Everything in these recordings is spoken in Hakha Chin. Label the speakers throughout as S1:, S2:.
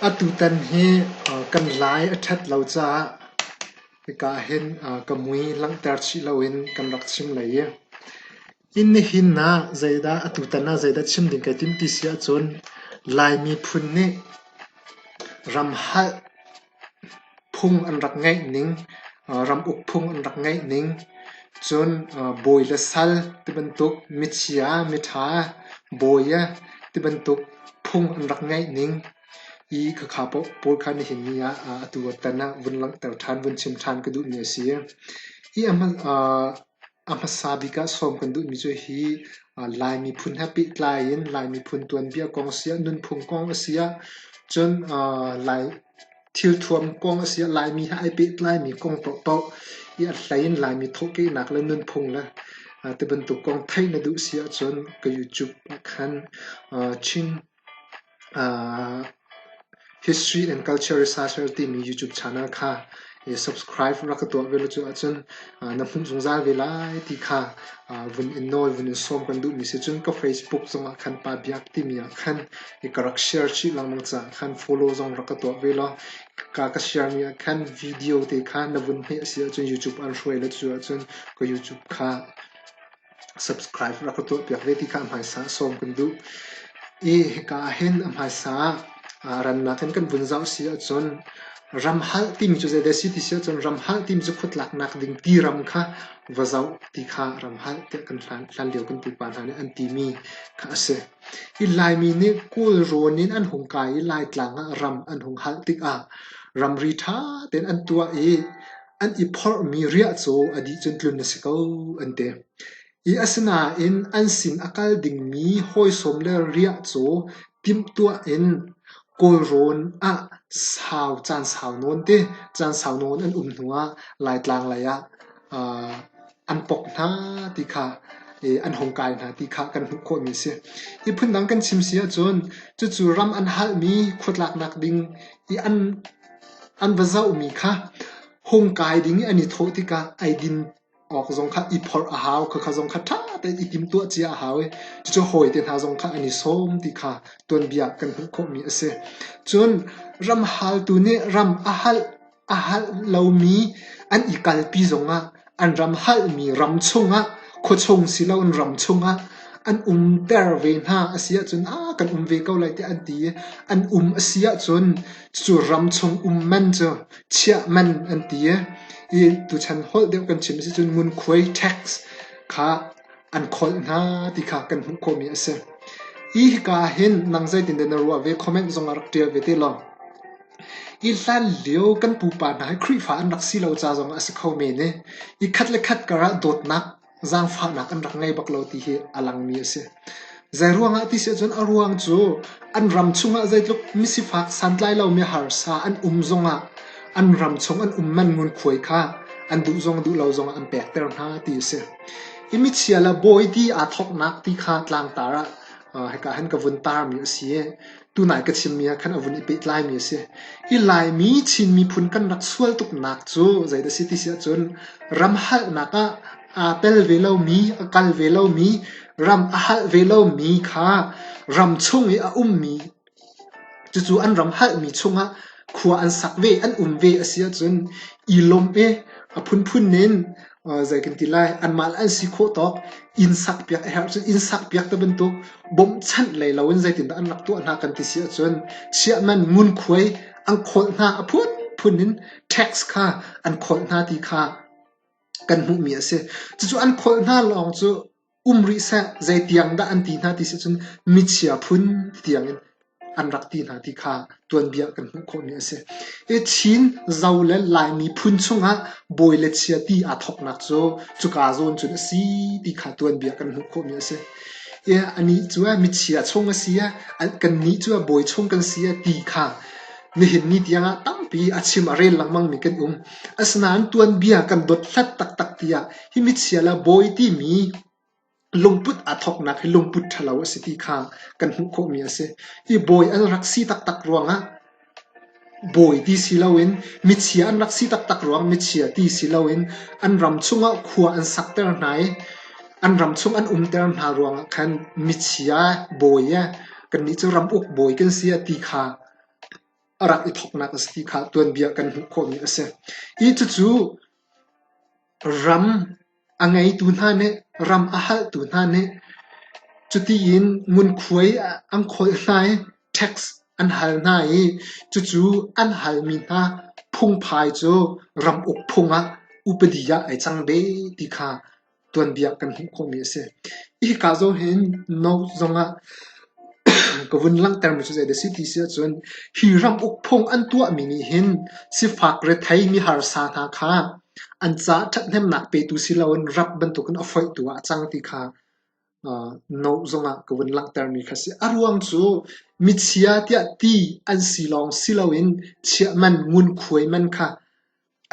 S1: Atutan hi kan lai a ṭhat lo caah hika ahhin ka mui langhter chih loin kan rak chim lai i inn nihin ah zeidah atutan ah zeidah chim ding kai tim ti si ahcun Lai miphun nih ram halh Phung an rak ngeih ning, ramuk phung an rak ngeih ning, cun bawi le sal tibantuk, michia, miṭha, bawi tibantuk phung an rak ngeih ning i khakha pawl kha nihin ni ah atu a tan ah vun langhter ṭhan, vun chim ṭhan ka duhmi a si. Hi a hman, A hmasa bik ah sawm kan duhmi cu hi Lai miphun he pehtlai in Lai miphun tuanbia kong a si ah nunphung kong a si ah cun Lai thilthuam kong a si ah Laimi he ai pehtlaimi kong paohpaoh i a hlei in Laimi thawhkehnak le nunphung le tibantuk kong theih na duh si ahcun ka YouTube ah khan Chin History and Culture Researcher timi YouTube channel kha subscribe rak ka tuah ve lo cuah cun na hmuh zungzal ve lai ti kha vun in nawl vun in sawm kan duhmi si cun ka Facebook zongah khan Pa Biak timi ah khan ka rak share chih lengmang caah khan follow zong rak ka tuah ve law ka ka sharemi ah khan video te kha na vun hmeh a si ahcun YouTube an hruai lo cuah cun ka YouTube kha Subscribe rak ka tuahpiak ve ti kha a hmaisa sawm kan duh i hika ahhin a hmaisa ah rannak in kan vun zoh si ahcun ram halh timi cu zeidah a si ti si ahcun ram halh timi cu khuatlaknak ding ti ram kha va zoh ti kha ram halh tiah kan hlan, hlanlio kan pupa hna nih an timi kha a si. I Laimi nih Kawl rawn in an hung kai i Laitlang ah ram an hung halh tikah ramri ṭha tein an tuah i An i phorhmi riah cu a dih cun tlun a si ko, an ti. Asinain an sin a kal dingmi hawisawm le riah cu timhtuah in Kawlrawn ah sau caan sau nawn te, caan sau nawn an um hnuah Laitlang lei ah an pok hna ti kha an hung kai hna ti kha kan hmuh khawhmi a si. Hi phundang kan chim si ahcun cucu ram an halhmi khuatlaknak ding i an An va zohmi kha hung kai ding i an i thawh tikah eidin awk zong kha i phorh a hau, khakha zong kha ṭha tein i timtuah cia a hau i cucu hawite hna zong kha an i sawm ti kha tuanbia kan hmuh khawhmi a si. Cun ram haltu nih ram a halh a halh lomi an i kalpi zongah An ram halhmi ram chungah khuachung siloin ram chungah an umter ve hna a si ahcun a kan um ve ko lai tiah an ti i an um a si ahcun cu ram chung um man cu chiah man an ti i tuchan holh deuh kan chim a si cun ngunkhuai tax kha an kholh hna ti kha kan hmuh khawhmi a si. Hi hika ah hin nang zeitindah na ruah ve comment zong ah rak ṭial ve te law. Hi hlanlio kan pupa hna hi Khrihfa an rak si lo ca zong a si kho men i, i khat le khat karah dawtnak, zaangfahnak an rak ngei bak lo ti hi a langmi a si. Zeiruangah ti si ahcun a ruang cu an ram chungah zeitluk misifak santlai lomi harsa an um zongah an ram chung an um man ngunkhuai kha an duh zong duh lo zongah an pekter hna ti a si. Hi michia le bawi ti aa thawknak ti kha tlangtar ah hika han ka vun tarmi a si i, tunai ka chimmi ah khan a vun i pehtlaimi a si. Hi Laimi Chin miphun kan rak sual tuknak cu zeidah a si ti si ahcun ram halhnak ah aa tel ve lomi, a kal ve lomi, ram a halh ve lomi kha ram chung i a ummi cucu an ram halhmi chungah khua an sak ve, an um ve a si ahcun i lawmh i a phunphun in zei kan ti lai anmah le an si khawh tawk inn sakpiak a herh cun inn sakpiak te bantuk bawmhchanh lei loin zeitindah an rak tuah hna kan ti si ahcun chiahman ngunkhuai an kholh hna a phunphun in tax kha an kholh hna ti kha kan hmuhmi a si cucu an kholh hna lawng cu um rih seh zei tiang dah an ti hna ti sih cun michia phun tiangin an rak ti hna ti kha tuanbia kan hmuh khawhmi a si. Hi Chin zo le Laimi phun chungah bawi le chia ti aa thawknak cu cuka zawn cun a si ti kha tuanbia kan hmuh khawhmi a si. Ie anih cu a michia chung a si a kannih cu a bawi chung kan si a ti kha nihin ni tiangah tampi a chim a rel lengmangmi kan um. Asinain tuanbia kan dot hlat taktak tiah Hi michial ah bawi timi lungput aa thawknak hi lungput ṭhalo a si ti kha kan hmuh khawhmi a si. Hi bawi an rak si taktak ruangah bawi ti si loin michia an rak si taktak ruangah michia ti si loin an ram chungah khua an sakter hna i an ram chung an umter hna ruangah khan michia, bawi kannih cu ram uk bawi kan si a ti kha a rak i thawknak a si ti kha tuanbia kan hmuh khawhmi a si. Hi cucu Ram a ngeitu hna nih ram a halhtu hna nih cutiin ngunkhuai an kholh hna i tax an hal hna i cucu an halmi hna phungphai cu ram uk phung ah upadi ah ai cang ve ti kha tuanbia kan hmuh khawhmi a si. Hika zong hin note zongah Ka vun langhtermi cu zeidah a si ti si ahcun hi ram uk phung an tuahmi nih hin sifak rethei miharsa hna kha an caah ṭhathnemnak petu si loin rap bantukin a foihtu ah a cang ti kha note zongah ka vun langhtermi kha a si. A ruang cu michia tiah ti an si lawng si loin chiah man, ngunkhuai man kha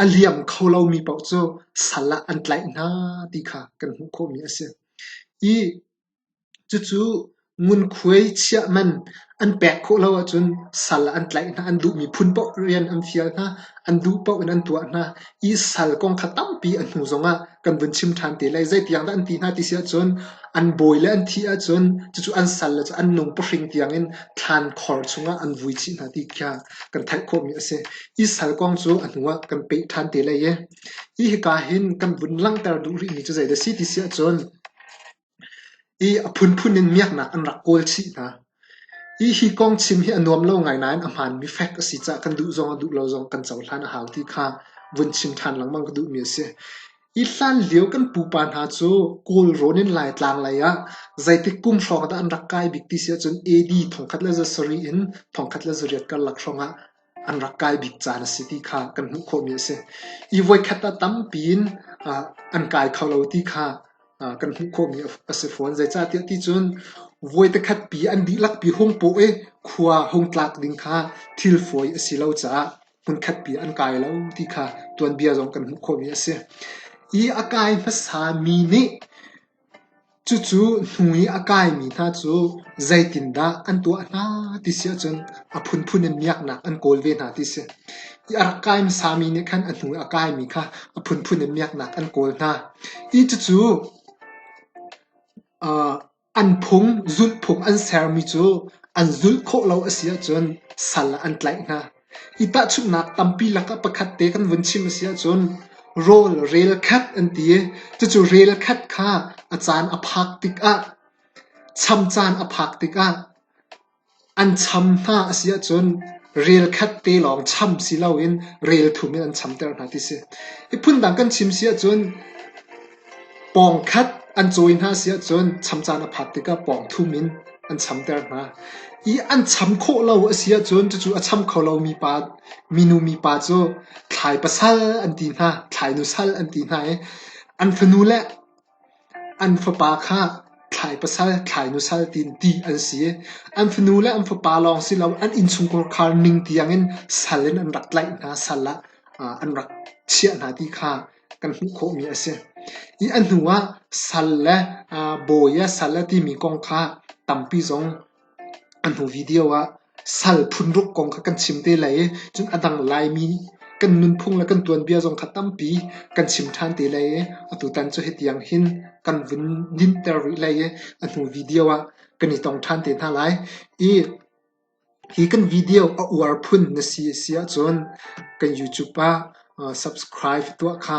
S1: a liam kho lomi paoh cu sal ah an tlaih hna ti kha kan hmuh khawhmi a si. I Cucu ngunkhuai chiah man an pek khawh lo ahcun sal an tlaih hna. An duhmi phun paoh rian an fial hna. An duh paoh in an tuah hna. I sal kong kha tampi a hnu zongah kan vun chim ṭhan te lai. Zeitiang dah an ti hna ti si ahcun an bawi le an thih ahcun cucu an sal le cu an nung pahring tiangin thlaankhor chungah an vui chih hna ti kha kan theih khawhmi a si. I sal kong cu a hnuah kan peh ṭhan te lai i, hi hika hin kan vun langhter duh rihmi cu zeidah a si ti si ahcun, I a phunphun in miaknak an rak kawl chih hna. I hi kong chim hi a nuam lo ngai nain a hmaanmi fact a si caah kan duh zong a duh lo zong kan cohlan a hau ti kha vun chim ṭhan lengmang ka duhmi a si. Hi hlanlio kan pupa hna cu Kawlrawn in Laitlang lei ah zeitik kum hrawng dah an rak kai bik ti si ahcun AD thongkhat le za sarih in thongkhat le zariat karlak hrawng ah an rak kai bik caan a si ti kha kan hmuh khawhmi a si. I voikhat ah tampi in an kai kho lo ti kha kan hmuh khawhmi a si fawn. Zeicahtiah ti cun voi takhatpi an dihlakpi hung paw i khua hung tlak ding kha thil fawi a si lo caah hmunkhatpi an kai lo ti kha tuanbia zong kan hmuh khawhmi a si. I a kai hmasa mi nih Cucu hnu i a kaimi hna cu zeitindah an tuah hna ti si ahcun a phunphun in miaknak an kawl ve hna ti si. I a rak kai hmasami nih khan a hnu i a kaimi kha a phunphun in miaknak an kawl hna. I cucu an phung, zulhphung an sermi cu an zulh khawh lo a si ahcun sal ah an tlaih hna. Hi tahchunhnak tampi lakah pakhat te kan vun chim a si ahcun rawl rel khat an ti i cucu rel khat kha a caan a phak tikah, cham caan a phak tikah an cham hna a si ahcun rel khat te lawng cham si loin rel thum in an chamter hna ti si. Hi phundang kan chim si ahcun Pawng khat an cawi hna si ahcun cham caan a phat tikah pawng thum in an chamter hna i an cham khawh lo a si ahcun cucu a cham kho lomi pa minu mipa cu thlai pasal an ti hna, thlai nusal an ti hna i an fanu le an fapa kha thlai pasal, thlai nusal tiin ti an si i an fanu le an fapa lawng si lo an innchungkhar ning tiangin sal in an rak tlaih hna, sal ah an rak chiah hna ti kha kan hmuh khawhmi a si. I a hnu ah sal le bawi a sal a timi kong kha tampi zong an hnu video ah sal phunruk kong kha kan chim te lai i cun a dang Laimi kan nunphung le kan tuanbia zong kha tampi kan chim ṭhan te lai i atutan cu hitiang hin kan vun ninter rih lai i a hnu video ah kan i tong ṭhan te hna lai. I hi kan video a uar phun na si a si ahcun kan YouTube ah subscribe tuah kha